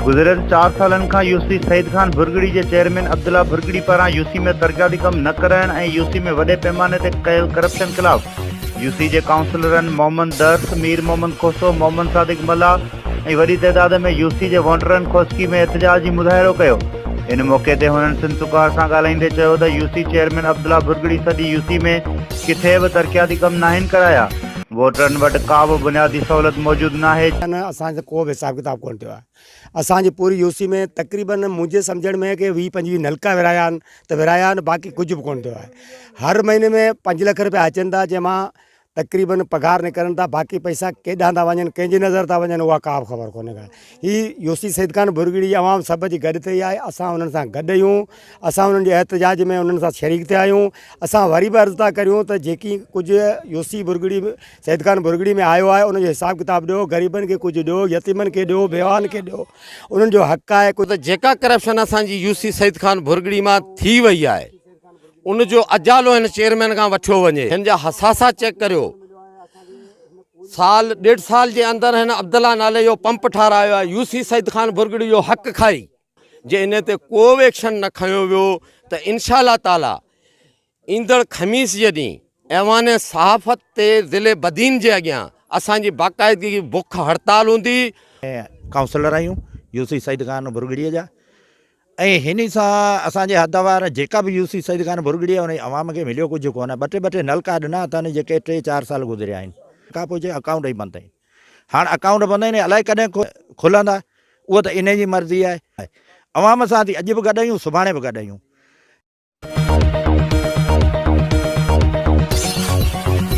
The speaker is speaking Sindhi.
گذريل چار سالن کان يو سي سعيد خان ڀرڳڙي جي چيئرمين عبدالله ڀرڳڙي پاران يو سي ۾ ترقياتي ڪم نه ڪرائڻ ۽ يو سي ۾ وڏي پيماني تي ڪيل ڪرپشن خلاف يو سي جي ڪائونسلرن محمد درس، مير محمد کوسو، محمد صادق ملاح، ۽ وڏي تعداد ۾ يو سي جي وونٽرن خوسڪي ۾ احتجاج جي مظاهرو ڪيو ان موقعي تي هنن سنڌ سگهار سان ڳالهائيندي چيو ته U C chairman Abdullah Bhurgri سڄي يو سي ۾ ڪٿي به ترقياتي ڪم ناهن ڪرايا ووٽرن وٽ ڪا به بنيادي سهولت موجود ناهي نه اسان سان ڪو به حساب ڪتاب ڪونه ٿيو آهي اسان جي پوري يو سي ۾ تقريبن منهنجي سمجهڻ ۾ ڪي ويهه پنجويهه نلڪا ورهايا آهن ته ورهايا آهن باقي ڪجهه به ڪونه ٿيو آهي هر مهيني ۾ پنج لک روپيا اچن ٿا جنهن مان تقريبن پگهار نڪرن ٿا باقي پئسا ڪيڏانهن ٿا وڃن ڪنهن جي نظر ٿا وڃن اها ڪا به خبر ڪونهي ڪا هي يوسي سيد خان ڀرڳڙي جي عوام سڀ جي گڏ تي آهي اسان انهن سان گڏ آهيون اسان انهن جي احتجاج ۾ انهن سان شريڪ ٿيا آهيون اسان وري به عرض ٿا ڪريون ته جيڪي ڪجهه يوسي ڀرڳڙي سيد خان ڀرڳڙي ۾ آيو آهي ان جو حساب ڪتاب ڏيو غريبن کي ڪجهه ڏيو يتيمن کي ڏيو بيواهن کي ڏيو انهن جو حق آهي ڪجهه ته جيڪا ڪرپشن اسان جي يوسي سيد خان ڀرڳڙي مان ٿي وئي آهي ان جو اجالو هن چيئرمين کان وٺيو وڃي هن جا حساسا چيڪ ڪريو سال ڏيڍ سال جي اندر هن عبدالله نالي جو پمپ ٺارايو آهي يو سي سيد خان برگڙي جو حق کائي جي ان تي ڪو به ايڪشن نه کنيو ويو ته انشاء الله تعالي ايندڙ خميس جي ڏينهن ايوان صحافت تي ضلع بدين جي اڳيان اسان جي باقاعدگي بک هڙتال هوندي. ڪائونسلر آهيون يو سي سيد خان برگڙي جا ۽ هن ئي سان اسان جي حد وار جيڪا به يوسي سيد خان ڀرڳڙي آهي انهي عوام کي مليو ڪجهه ڪونه ٻه ٽي ٻه ٽي نلڪا ڏنا اٿن جيڪي ٽي چار سال گذريا آهن کان پوء جي اڪائونٽ ئي بند آهن هاڻ اڪائونٽ بند آهن الائي ڪڏهن کلندا اهو ته انهي جي مرضي آهي عوام سان ٿي اڄ به گڏ آهيون سڀاڻي به گڏ آهيون.